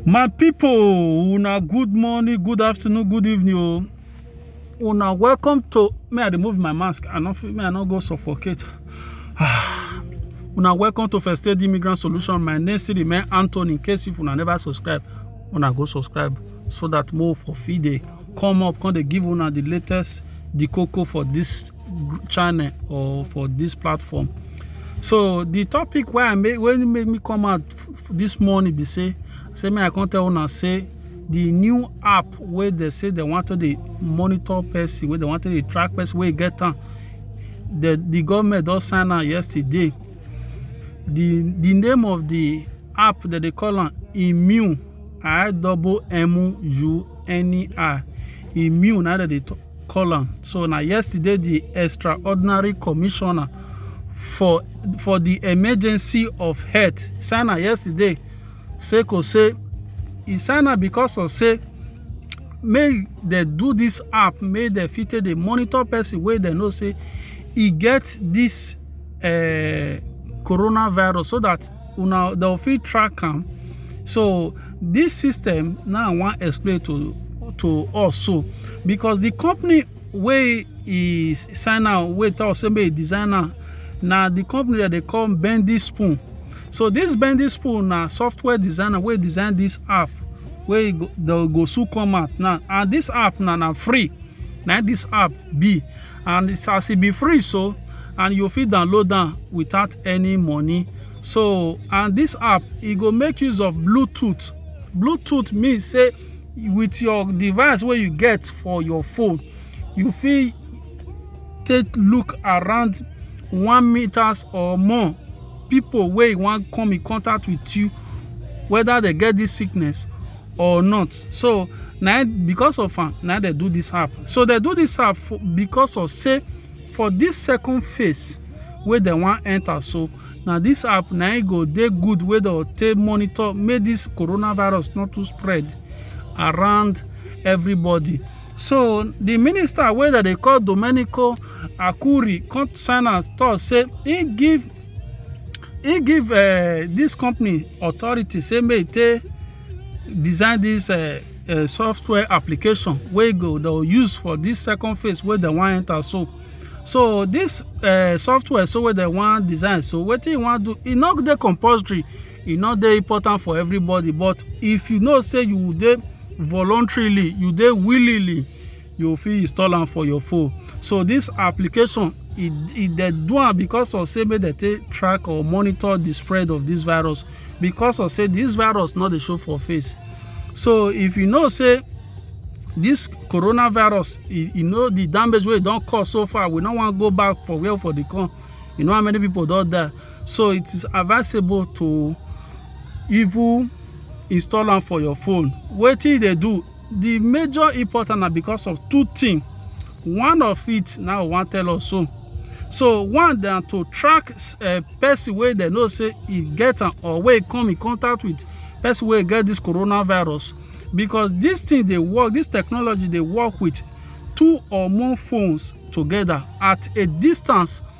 My people, una good morning, good afternoon, good evening. Oh. Una welcome to me. I remove my mask. I not me. I not go suffocate. una welcome to First Aid Immigrant Solution. My name is Remain Anthony. In case if una never subscribe, una go subscribe so that more for feed day come up. Come they give una the latest the cocoa for this channel or for this platform. So the topic where I make when make me come out this morning be say say me I come tell una say the new app wey they say they want to dey monitor person wey they want to dey track person wey get am the the government don sign am yesterday the the name of the app that they call am immune i double m u n e r immune na dem dey talk call am so na yesterday di extraordinary commissioner for for di emergency of health sign am yesterday say ko say e sign am because of say make dem do dis app make dem fit take dey monitor person wey dem know say e get dis eh, coronavirus so dat una dem fit track am so this system now i wan explain to to us so because the company wey e sign am wey tell us say make e design am na the company that they call bendy spoon so this bendy spoon na software designer wey design this app wey go, they go soon come out now and this app na na free na this app be and it's as e be free so and you fit download am without any money so and this app e go make use of bluetooth bluetooth mean say with your device wey you get for your phone you fit take look around one meters or more people wey wan come in contact with you whether they get this sickness or not so na e, because of am na e dem do this app so dem do this app for, because of say for this second phase wey dem wan enter so na this app na e go dey good wey dem take monitor make this coronavirus not too spread around everybody so the minister wey dem dey call domenico akuri come sign am talk say he give he give uh, this company authority say make they design this uh, uh, software application wey go they use for this second phase where they want enter so so this uh, software so where they want design so what he want do e not the compulsory e not the important for everybody but if you know say you dey voluntarily you dey willingly you fit install am for your phone so this application e e dey do am because of say make dem take track or monitor the spread of this virus because of say this virus no dey show for face so if you know say this coronavirus e e know the damage wey e don cause so far we no wan go back for where for the come you know how many people don die so it is advisable to even install am for your phone wetin e dey do The major important na because of two things. One of it now we wan tell us so. So one na to track uh, person wey dem know say e get am or wey come in contact with person wey get this coronavirus because this thing dey work this technology dey work with two or more phones together at a distance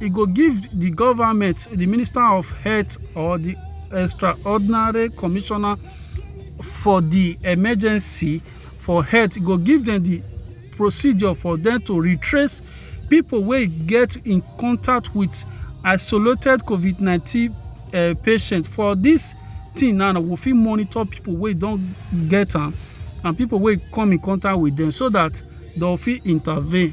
e go give di goment di minister of health or di extraordinary commissioner for di emergency for health e go give dem di procedure for dem to retrace pipo wey get in contact wit isolated covid nineteen eh, patient for dis tin now we fit monitor pipo wey don get am and pipo wey come in contact wit dem so dat dem fit intervene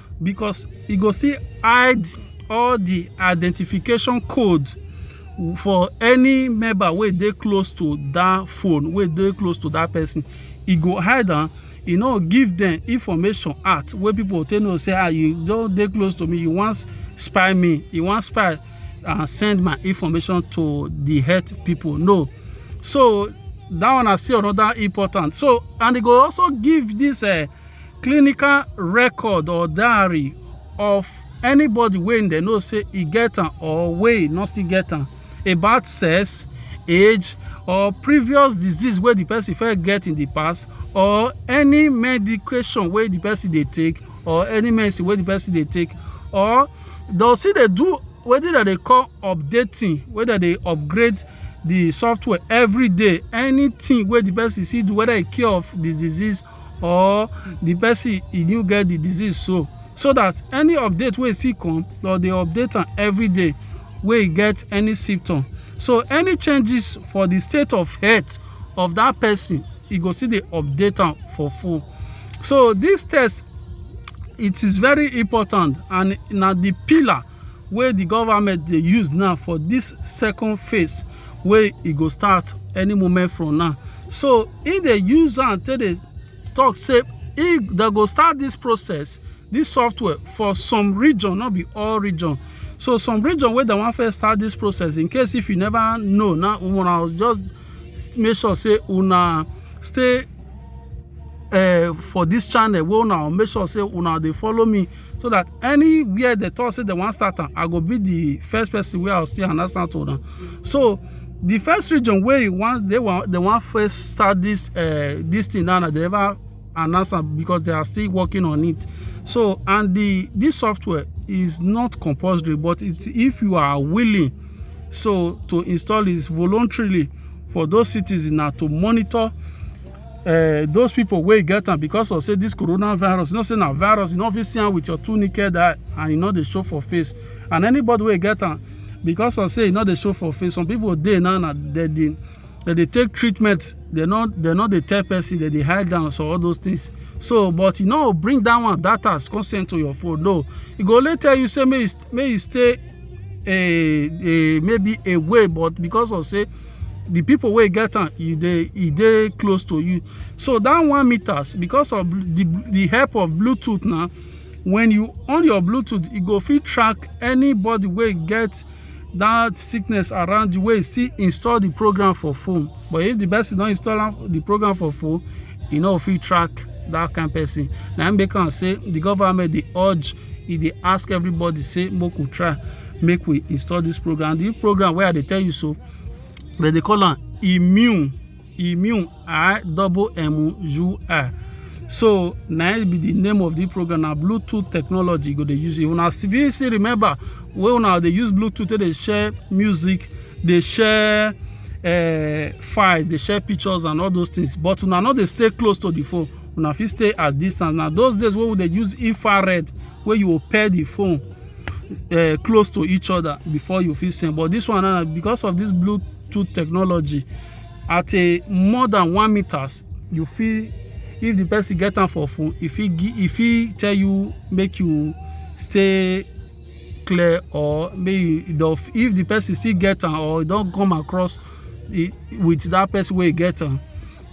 because e go still hide all the identification code for any member wey dey close to that phone wey dey close to that person e go hide am e no give them information out wey people take know say ah you don dey close to me you wan spy me you wan spy and send my information to the health people no so that one na still another important so and e go also give this uh, clinical record or diary of anybody wey dem know say e get am or wey no still get am about sex age or previous disease wey the person first get in the past or any medication wey the person dey take or any medicine wey the person dey take or dem still dey do wetin dem dey call updating wey dem dey upgrade the software every day anything wey the person see do whether e cure of the disease or the person e new get the disease so so that any update wey still come dem dey update am every day wey e get any symptom so any changes for the state of health of that person e go still dey update am for phone so this test it is very important and na the pillar wey the government dey use now for this second phase wey e go start any moment from now so e dey use am take dey talk say e dey go start this process this software for some region not be all region so some region wey dem wan first start this process in case if you never know now una just make sure say una stay uh, for this channel wey una make sure say una dey follow me so that anywhere they talk say they wan start am i go be the first person wey i go still announce am to una so the first region wey wan they wan they wan first start this uh, this thing now na they never announce am because they are still working on it so and the this software is not compulsory but it, if you are willing so to install it voluntarily for those citizens na to monitor uh, those people wey get am because of say this coronavirus you know say na virus you no fit see am with your two naked eye and you no dey show for face and anybody wey get am because of say you no dey show for face some people dey now na dem dey dem dey take treatment dem no dem no dey tell person dem dey hide down so all those things so but you no bring that one that as consent to your phone no e go only tell you say make you make you stay a a maybe a way but because of say the people wey get am e dey e dey close to you so that one meters because of the the help of bluetooth now when you on your bluetooth e go fit track anybody wey get that sickness around you wey still install the program for phone but if the person don install the program for phone e no fit track that kind person na im make am say the government dey urge e dey ask everybody say make we try make we install this program the program wey i dey tell you so they dey call am immune immune i double m u i so na it be the name of the program na bluetooth technology you go dey use if una still still remember wey una dey use bluetooth take dey share music dey share uh, files dey share pictures and all those things but una no dey stay close to the phone una fit stay at distance na those days wey we dey use infrared wey you go pair the phone uh, close to each other before you fit send but this one now because of this bluetooth technology at a more than one meters you fit if the person get am for phone e fit e fit tell you make you stay clear or make you if the person still get am or e don come across e, with that person wey e get am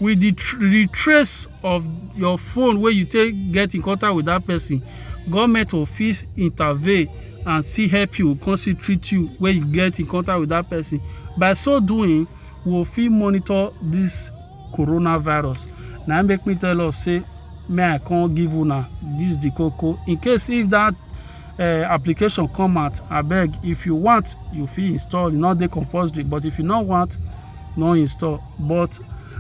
with the tr the trace of your phone wey you take get in contact with that person government go fit intervene and still help you come still treat you when you get in contact with that person by so doing we go fit monitor this coronavirus na im make me tell us say may i come give una this the koko in case if that uh, application come out abeg if you want you fit install e no dey compulsory but if you no want no install but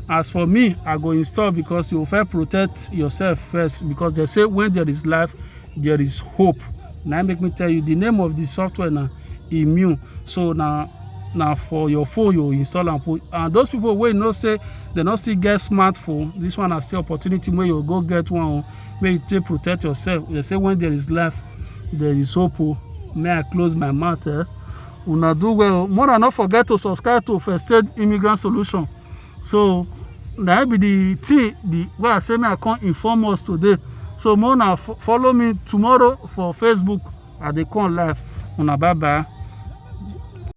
as for me i go install because you first protect yourself first because they say when there is life there is hope Now make me tell you the name of the software now immune so now now for your phone you install and put and those people will not say they not still get smartphone this one is still opportunity where you go get one where you take protect yourself they say when there is life there is hope oh. may i close my mouth eh? una do well more and not forget to subscribe to first aid immigrant solution so na be the thing the wey i say me i come inform us today so more na follow me tomorrow for facebook i dey come live una bye bye.